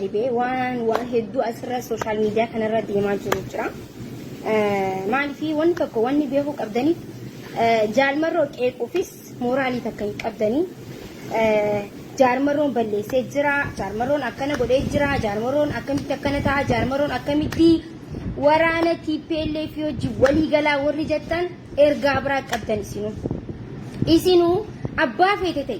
Ribee waan waan hedduu asirra sooshaal miidiyaa kanarra deemaa jiru jira. Maaliif wanni tokko wanni beekuu qabdanii jaalmarroo qeequufis mooraalii takka hin qabdanii. Jaarmarroon balleessee jira, jaarmarroon akkana godhee jira, jaarmarroon akkamitti akkana ta'a, jaarmarroon akkamitti waraana TPLF hojii walii galaa warri jettan ergaa biraa qabdan isinuu. Isinuu abbaa feete ta'e.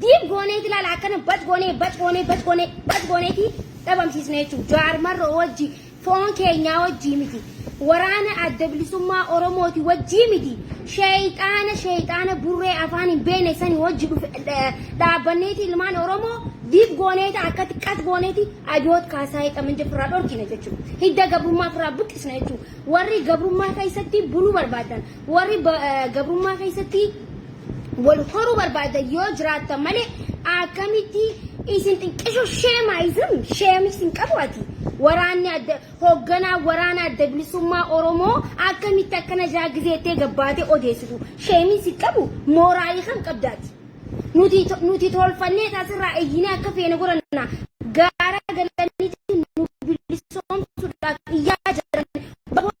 Diib goonee ti laala akkana bac goonee bac goonee bac goonee bac goonee ti dhabamsiisne jechuudha. Jawaar marroo wajji foon keenyaa wajjii miti. Waraana adda bilisummaa Oromooti wajjii miti. Sheeyxaana sheeyxaana burree afaan hin beekne sani wajji dhufe dhaabbanneeti ilmaan Oromoo diib goonee ta akkatti qas goonee ti abiyoot kaasaa hidhaman jefirraa dhorkina jechuudha. Hidda gabrummaa firraa buqqisna jechuudha. Warri gabrummaa keessatti buluu barbaadan Warri gabrummaa keessatti wal horuu barbaadan yoo jiraattan malee akkamitti isin xiqqishu sheemaayizim sheemii isin qabu ati waraanni adda hoogganaa waraana adda bilisummaa Oromoo akkamitti akkana jaa gizeettee gabbaatee odeessitu sheemii isin qabu mooraalii kam qabdaati nuti nuti tolfannee taasirraa eeyyinee akka feene godhanna gaara galanitti nu bilisoomsuudhaaf iyyaa jiran bakka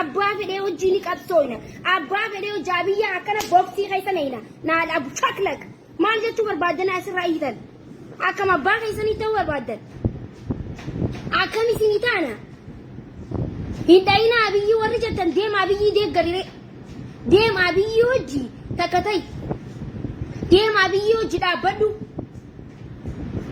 Abbaa fedhee hojii ni qabsooyna. Abbaa fedhee hojaa biyya akkana boksii keessa nayna. Naal abu chaklak. Maal jechuu barbaaddan asirraa iyyitan? Akkam abbaa keessanii ta'uu barbaaddan? Akkam isinii taana? Hin dhayina abiyyi warri jettan deema abiyyi deeggarire. Deema abiyyi hojii takka ta'i. Deema abiyyi hojii dhaabbadhu.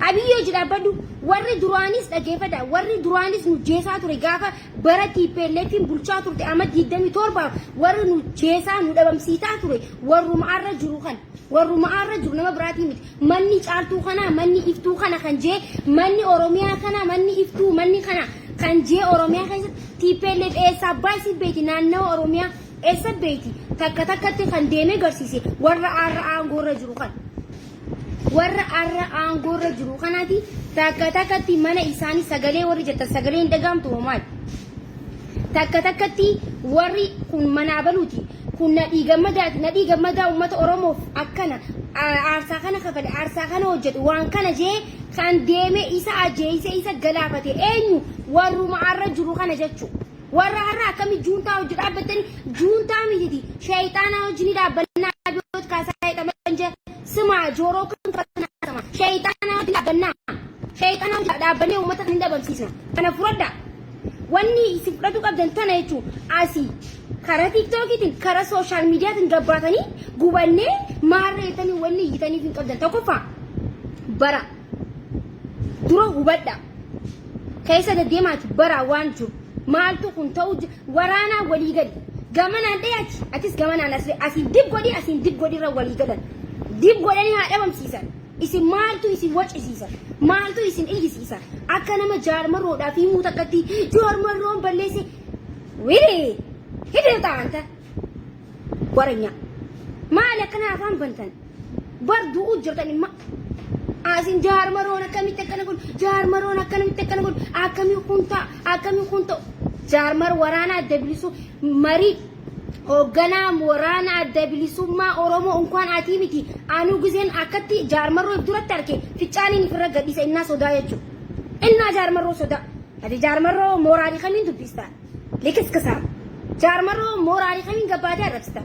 Abiyyi hojii dhaabbadhu warri duraanis dhageeffadha warri duraanis nu jeesaa ture gaafa bara TPLFin bulchaa turte amma 27 warri nu jeesaa nu dhabamsiisaa ture warruma arra jiru kan warruma arra jiru nama biraatii miti manni caaltuu kana manni iftuu kana kan jee manni oromiyaa kana manni iftuu manni kana kan jee oromiyaa keessatti TPLF eessa abbaa isii beeti naannawa oromiyaa eessa beeti takka takkatti kan deemee garsiise warra arra aangoo irra jiru kan. Warra arra aangoorra jiru kanaati takka takkatti mana isaanii sagalee warri jettan sagalee hin dhagaamtu moo maali? Takka takkatti warri kun manaa baluuti kun nadhii gammadaati nadhii gammadaa uummata Oromoof akkana aarsaa kana kafale aarsaa kana hojjete waan kana jee kan deeme isa ajeeyse isa galaafate eenyu warruma arra jiru kana jechuu warra har'a akkami juuntaa hojii dhaabbattani juuntaa mititi sheeyxaanaa hojii ni dhaabbannaa abiyoot kaasaa jedhaman jee Sima jooroo kan fanaatama. Sheeyxaana wajjin dhaabbannaa. Sheeyxaana wajjin dhaabbannee uummata kan hin dabamsiisna. Kana fudhadha. Wanni isin fudhatu qabdan tana jechuun asii karaa tiiktookiitiin karaa sooshaal miidiyaatiin gabbaatanii gubannee maarree jettanii wanni iyyitaniif hin qabdan. Tokkoffaa bara dura hubadha. Keessa deddeemaati bara waan jiru. Maaltu kun ta'uu jira. Waraanaa walii gali. Gamanaan dhahi ati, atis gamanaan as dhahi. Asiin dib godhi, asiin dib godhi irra walii galan. Dib godhanii haa dhabamsiisan. Isin maaltu isin wacisiisa? Maaltu isin iyyisiisa? Akka nama jaarmarroodhaaf himuu takkatti jaarmarroon balleesse. Wili! Hidhata anta! Waranyaa. Maali akkana afaan bantan? Bar du'uu jirtan imma. Asin jaar maroon akkamitti akkana kun jaar maroon akkamitti akkana kun akkamii kun ta'a akkamii kun ta'u. Jaar mar waraana adda bilisuu marii hoogganaa waraana adda bilisummaa Oromoo unkaan atii miti anuu giseen akkatti jaar marroo duratti arke ficcaaniin ifirra gadhiisa innaa sodaa jechuudha. Innaa jaar marroo sodaa. Ati jaar marroo mooraalii kamiin dubbistaa? Likiskisaa. Jaarmaroo mooraalii kamiin gabbaatee arrabsita?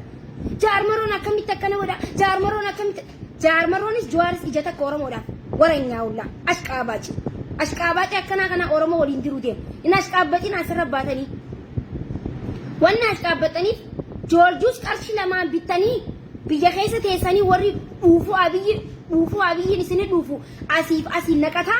Jaarmaroon akkamitti akkana godha? Jaarmaroon akkamitti? Jaarmaroonis Juwaaris ija takka Oromoodhaaf waranyaa ollaa. Ashqaabaaci. Ashqaabaaci akkanaa kana Oromoo waliin jiru deema. Hin ashqaabbaxin asirra baatanii. Wanni ashqaabbaxaniif joorjuus qarshii lamaan bittanii biyya keessa teessanii warri dhuufuu abiyyi dhuufuu abiyyiin isinii dhuufu asiif asiin naqataa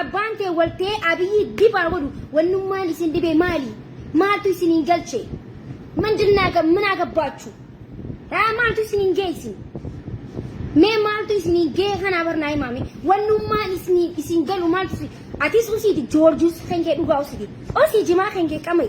Abbaan tee wal ta'ee Abiyyi dib haa godhu wannummaan isin dhibee maali? Maaltu isiniin galche? Mindin naaga min agabbaachu? Haa maaltu isiniin gee isin? Mee maaltu isiniin gee kanaa barnaa himaame? Wannummaan isiniin isin galu maaltu isin? Atis usiiti joorjus kan kee dhugaa usiiti. Usii jimaa kan kee qamai.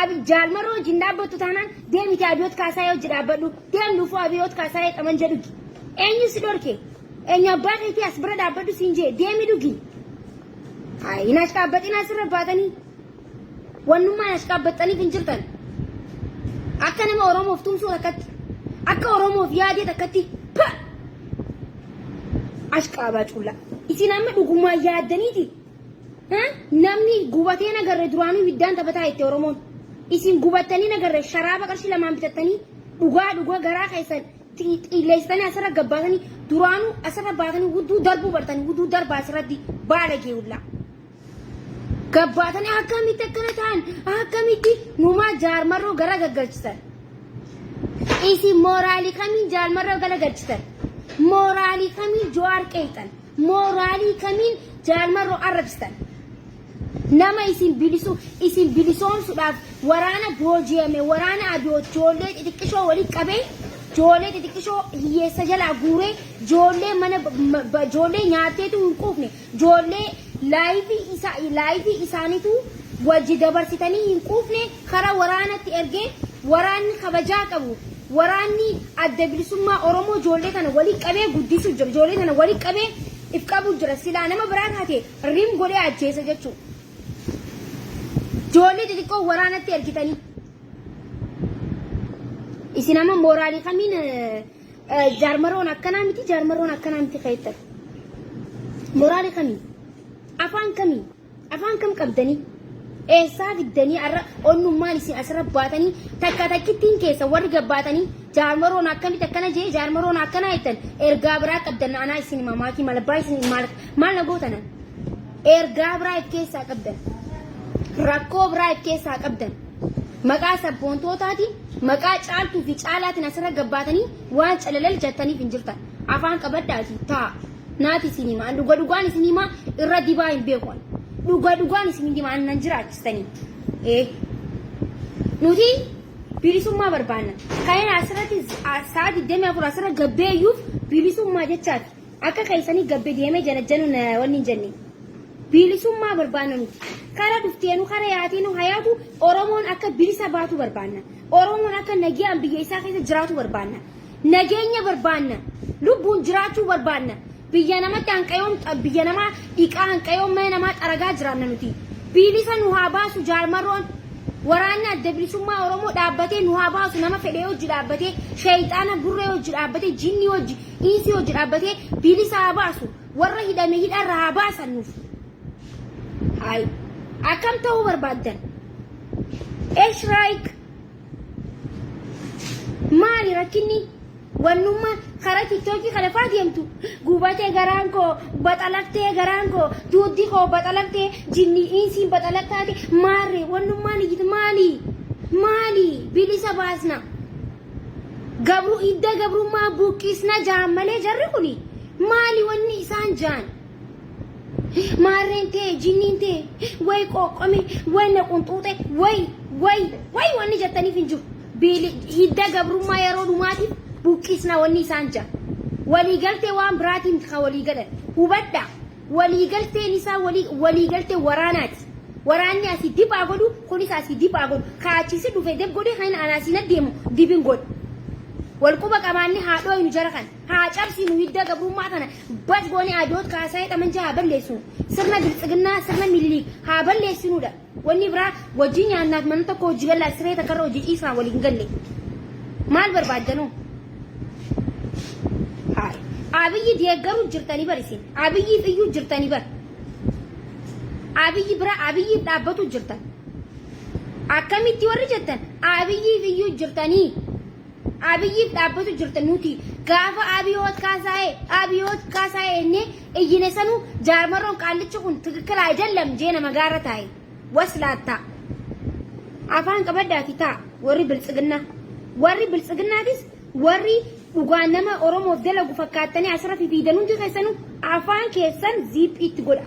Abi jaal maroo wajjin dhaabbattu taanaan deemiti abiyoot kaasaayee wajji dhaabbadhu deem dhufuu abiyoot kaasaayee xamanja dhugi eenyu si dhorke eenyu abbaa keetii as bira dhaabbadhu siin jee deemi dhugi Ay, hin ashqaabbaxin asirra baatanii wannummaan ashqaabbaxxaniif hin jirtan akka nama oromoof tumsuu takkatti akka oromoof yaadee takkatti pa ashqaabaa cuullaa isin amma dhugumaa yaaddaniiti Namni gubatee nagarre duraanuu ibiddaan taphataa itti Oromoon. Isin gubattanii nagarre sharaaba qarshii lamaan bitattanii dhugaa dhugaa garaa keessan xiilleessitanii asirra gabbaatanii duraanuu asirra baatanii hudduu darbuu bartanii hudduu darbaa asirratti baala geewullaa. Gabbaatanii akkamitti akkana ta'an akkamitti numaa jaarmarroo gara gaggalchisan. Isin mooraalii kamiin jaarmarroo gara galchisan. Mooraalii kamiin jo'aar qeexan. Mooraalii kamiin Jaal Marroo arrabsitan? Nama isin bilisu isin bilisoomsuudhaaf waraana booji'ame waraana abiyoot joollee xixiqqishoo walitti qabee joollee xixiqqishoo hiyyeessa jalaa guuree joollee mana ma- ba- joollee nyaatteetu hin quufne joollee laayivii isa laayivii isaaniitu wajji dabarsitanii hin quufne kara waraanatti ergee waraanni kabajaa qabu waraanni adda bilisummaa Oromoo ijoollee kana walitti qabee guddisuu jira. Ijoollee kana walitti qabee if qabuu jira. Silaa nama biraa taate rim godhee ajjeesa jechuu. Ijoollee xixiqqoo waraanatti ergitanii. Isin amma mooraalii kamiin eh, eh, jaarmaroon akkanaa miti jaarmaroon akkanaa miti keettan. Mooraalii kamiin? Afaan kamiin? Afaan kam qabdanii? Eessaa fiddanii har'a onnummaan isin asirra baatanii takka takkittiin keessa warri gabbaatanii jaarmaroon akkamitti akkana jee jaarmaroon akkana jettan ergaa biraa qabdan anaa isin mamaakii malabbaa isin maal maal na gootanan ergaa biraa if keessaa qabdan rakkoo biraa if keessaa qabdan maqaa sabboontootaatiin maqaa caaltuu fi caalaatiin asirra gabbaatanii waan calalal jettaniif hin jirtan afaan qabadhaati taa. Naati isin hima an dhuga dhugaan isin hima irra dibaa hin beeku an dhuga dhugaan isin hin hima an nan jiraachistanii ee nuti bilisummaa barbaanna kaina asirratti sa'a 24 asirra gabbee iyyuuf bilisummaa jechaati akka keessanii gabbee deemee janajjanu wanni hin jenne bilisummaa barbaanna nuti kara dhufteenu kara yaateenu hayaatu oromoon akka bilisa baatu barbaanna oromoon akka nagiyaan biyya isaa keessa jiraatu barbaanna Nageenya barbaanna. Lubbuun jiraachuu barbaanna. Biyya namatti hanqayoon biyya namaa dhiqaa hanqayoon mana namaa xaragaa jiraanna nuti. Biilisa nu haa baasu jaarmarroon. Waraanni adda bilisummaa Oromoo dhaabbatee nu haa baasu nama fedhee hojji dhaabbatee sheeyxaana burree hojji dhaabbatee jinnii hojji iinsii hojji dhaabbatee biilisa haa baasu warra hidhame hidharra haa baasan nuuf. Haay akkam ta'uu barbaaddan? Esh raayik Maali rakkinni wannummaa karaa tiktookii kana faa deemtu gubatee garaan koo baxalattee garaan koo duuddi koo baxalattee jinni insiin baxalattaate maarree wannummaan iyyiti maali maali bilisa baasna gabru idda gabrummaa buqqisna jaan malee jarri kuni maali wanni isaan jaan Maarreen tee, jinniin tee, way qooqqome, way na qunxuuxe, way, way, way wanni jettaniif hin jiru. Biili hidda gabrummaa yeroo dhumaatiif buqqisna wanni isaan ja'a. Waliigaltee waan biraatiin miti kan walii galan. Hubadhaa. Waliigalteen isaa walii waliigaltee waraanaati. Waraanni asii dib haa godhu, kunis asii dib haa godhu. Kaa achiisi dhufe deb godhe kan anaa siin addeemu dibin godha. Wal quba qabaanne haadhoo inu jara kana. Haa cabsinu hidda gabrummaa kana bas goone abiyoot kaasaayee xamanjaa haa balleessinu. Sirna bilxiginnaa sirna miniliik haa balleessinuudha. Wanni biraa wajjin nyaannaaf mana tokko hojii gallaa siree takkarra hojii ciisnaa waliin hin galle. Maal barbaaddanoo? Haay. Abiyyi deeggaruu jirtanii bar isin. Abiyyiif iyyuu jirtanii bar. Abiyyi bira abiyyiif dhaabbatu jirtan. Akkamitti warri jettan abiyyiif iyyuu jirtanii. Abiyiif dhaabbatu jirta nuti gaafa Abiyoot Kaasaayee Abiyoot Kaasaayee ennee iyyine sanuu jaarmarroon qaallichi kun tikikkila ajallam jee nama gaara taa'e waslaattaa afaan qabaddaati taa warri biltsiginnaa warri biltsiginnaatis warri dhugaa nama Oromoof dalagu fakkaattanii asirra fifiidan hundi keessanuu afaan keessan ziiphiitti godha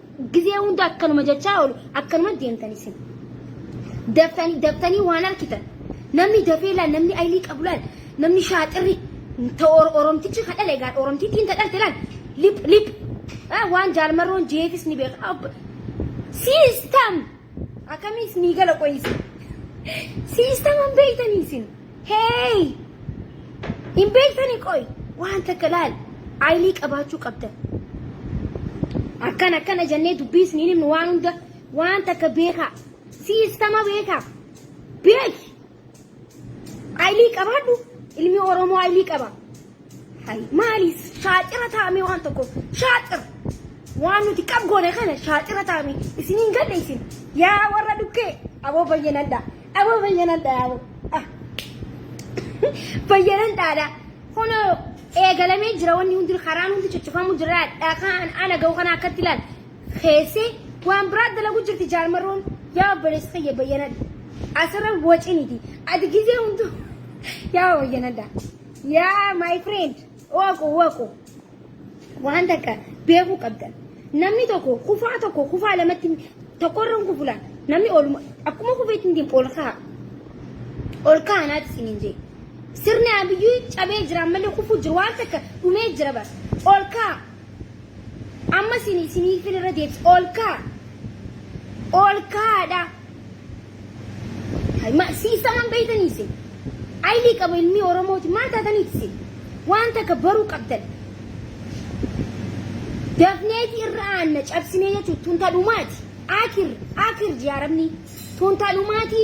Gizee hunda akkanuma jechaa oolu akkanuma deemtan isin. Daftanii daftanii waan arkitan namni dafee laal namni aylii qabu laal namni shaaxirri ta or- oromtichi ka dhale egaa oromtittiin ta dhalte laal lip lip Ah, waan jaalmarroon jeefis ni beeka. Abba- Siistam akkamiis ni gala qoyisi. Siistam hin beektanii isin. Hey! Hin beektanii qoy waan takka laal ayilii qabaachuu qabdan. Akkan akkana jennee dubbii isiniin himnu waan hunda waan takka beekaa siistama beekaa beeki ayilii qabaadhu ilmi Oromoo ayilii qaba. Hay maali shaaxira taa'amee waan tokko shaaxira waan nuti qab goone kana shaaxira taa'amee isin hin galle isin yaa warra dhukkee aboo bayyanadha aboo bayyanadha yaa aboo ah bayyanan dhaadha hono eegalamee jira wanni hundi karaan hundi cuccufamu jira dhakaan ana ga'u kana akkatti ilaal keessee waan biraa dalagu jirti jaarmarroon yaa obboleessa kiyya bayyanadha asirra waciniti ati gizee hundu yaa bayyanadha. Yaa my friend waqu waqu waan takka beekuu qabdan namni tokko kufaa tokko kufaa lamatti tokkorra hin kufula namni oluma akkuma kufeetti hin deemu ol ka'a ol ka'a naati isin hin jee sirni abiyyuu cabee jira ammallee kufuu jiru waan takka dhumee jira bas ol ka'a amma isin isiniifin irra deebisa ol ka'a ol kaa'adha. Hay ma siistaman beeytanii isin. Aylii qaba ilmii Oromooti maal taatanii isin. Waan takka baruu qabdan. Dafneeti irra aanna cabsinee jechuun tunta dhumaati. Akir akir jaaramni tunta dhumaati.